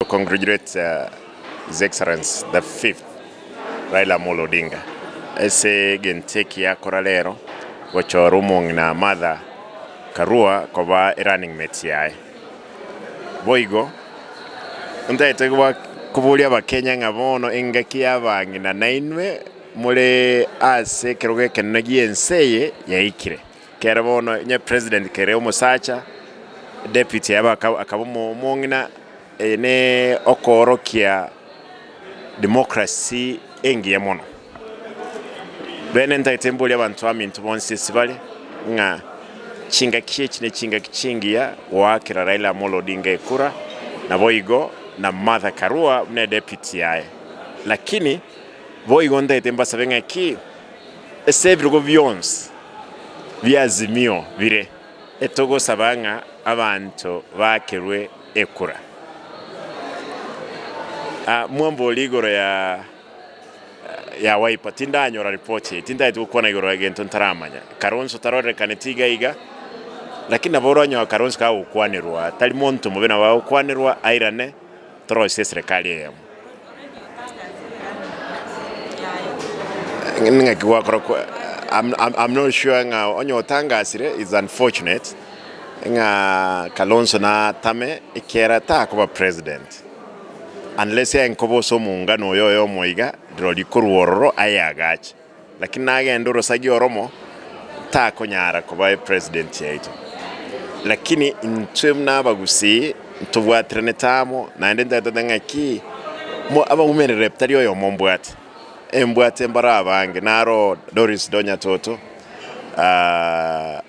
To congratulate his excellency the fifth Raila Amolo Odinga ase egento eki akora rero gochora omong'ina Martha Karua koba erunning mate yaye. Boigo ntagete koboria abakenya ng'a bono engaki y'abang'ina nainwe more ase ekerogo ekenene gie ense eye yaikire. Kere bono inye president kere omosacha deputy yabo aka akaba omo omong'ina eye ne okoorokia democracy engiya mono. Bene ntagete mboria abanto aminto bonsi ase bare ng'a chingaki echi ne chingaki chingiya goakera Raila Amolo Odinga ekura naboigo na Martha Karua buna deputy yaye. Lakini boigo ntagete mbasabe ng'a ki? Ase ebirogo bionsi bi'Azimio bire, etogosaba ng'a abanto baakerwe ekura. Mwamboria igoro ya ya Wiper, tindanyora report eye, tintaeti gokwana igoro egento ntaramanya. Kalonzo tarorekaneti iga iga, lakini nabo oranyoa Kalonzo kagokwanerwa, tari monto mobe nabo agokwanerwa airane. Torosie eserekari eyemo. Ng'ende ng'aki gwakora kwa I'm not sure ng'a onye otangasire it's unfortunate ng'a Kalonzo natame ekiagera takoba president unless aye nkoba ase omongano oyoyomo iga rirorio korwa ororo aye agache. Lakini nagende orosagia oromo takonyara koba epresident chiaito. Lakini intwe buna abagusii ntobwatiranete amo, naende ntaetete ng'aki mo abaumerere tari oyomo mbwate. Embwate mbaro abange naro Doris Donya Toto, aah.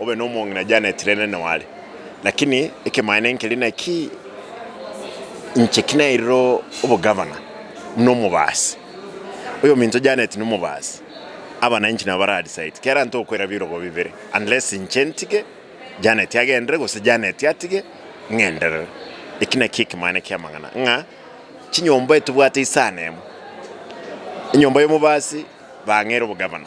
Obe nomong'ina na Janet rende neware. Lakini ekemaene nkeria naki, inche kinairire obogavana buna omobaasi, oyominto Janet nomobaasi, abana inche nabo baradi saiti. Kera nto okoira birogo bibere, unless inche ntige, Janet agendere, gose Janet atige, ng'enderere. Eki naki ekemaene kiamang'ana ng'a chinyomba etobwate isano emo. Enyomba yomobaasi bang'ere obogavana.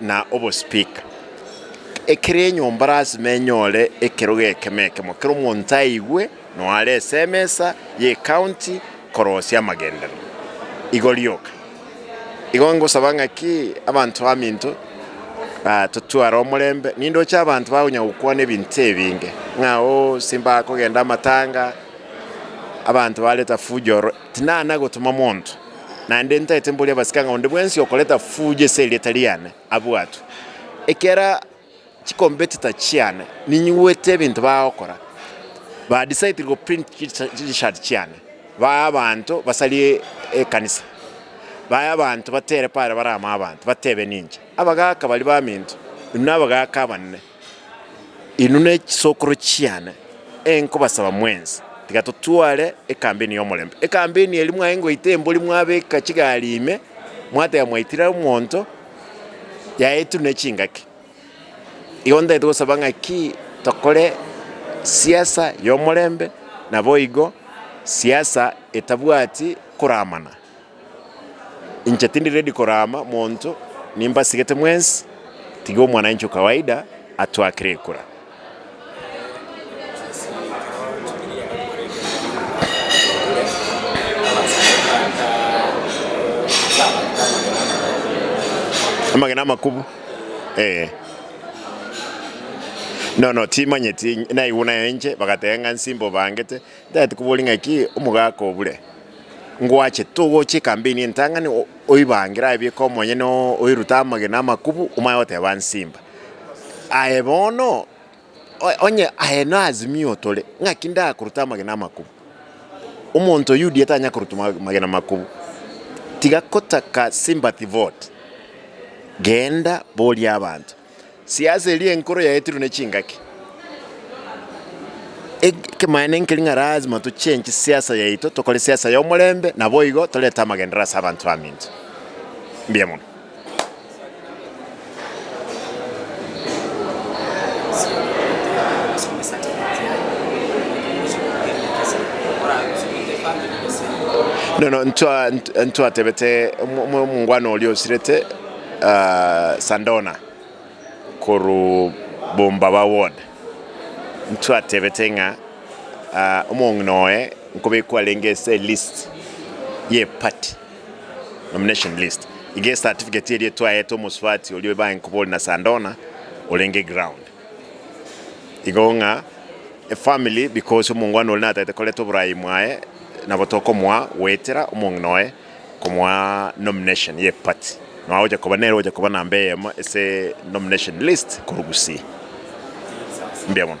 na obospeaker, ekero enyomba lasima enyore ekerogo ekemo ekemo kero omonto aigwe noyo are ase emesa y'ecounty korosia amagenderero. Igo rioka, igo ngosaba ng'aki abanto baminto totware omorembe, nindoche abanto bakonya gokwana ebinto ebinge ng'a oo simbaga kogenda amatanga, abanto bareta fujo ororo, tinana gotoma monto. naende ntaete mboria abasike ng'a onde bwensi okoreta fujo ase erieta riane abwatwe. Ekero chikompetita chiane ninyigwete ebinto bagokora, ba decide goprint chitishati chiane bae abanto basarie ekanisa, bae abanto batere pare bare amo abanto batebe ninche abagaaka baria baminto, inwe nabagaaka abanene. Inwe nechisokoro chiane, enkobasaba mwensi, tiga totware ekambeni y'omorembe. Ekambeni eria mwaye ngoita embori mwabeka chigari ime, mwateba mwaitire omonto, yaetire ne chingaki. Igo ntagete gosaba ng'aki tokore siasa y'omorembe, naboigo siasa etabwati koramana. Inche tindi ready korama monto nimbasigete mwensi tiga omwananchi o kawaida atwakere ekura. Amagena amakubu ee nono timanyeti naigwe nayo inche bagateba ng'a nsimba obangete ntagete kobori ng'a ki omogaka obure Ngwache, togocha ekambeni entang'ani oibangere aye bieka omonyene oo oirute amagena amakubu omaye goteba nsimba. Aye bono onye aye na Azimio tore ng'aki ndakoruta amagena amakubu. Omonto oyio UDA tanya koruta amagena amakubu tiga kotaka sympathy vote. Genda boria abanto. Siasa eria enkoro yaetirwe ne chingaki. Ekemaene nkeri ng'a lazima tochenche siasa yaito tokore siasa y'omorembe naboigo torete amagendereo ase abanto baminto. Mbuya mono. Nono ntwa ntwa ntwatebete omongwana oria osirete. Sandona korwa Bombaba Ward, ntwatebete ng'a omong'ina oye nkobe kwarenge ase elist ye party, nomination list, iga ecertificate eria twaete omosubati oria ebae nkobori na Sandona orenge ground. Igo ng'a efamiri because omongwana oria natagete koreta oboraai bwaye nabo tokomoa goetera omong'ina oye. Komoa nomination ye party nonya gocha koba nere ogocha koba namba eyemo ase nomination list korwa Gusii. Mbuya mono.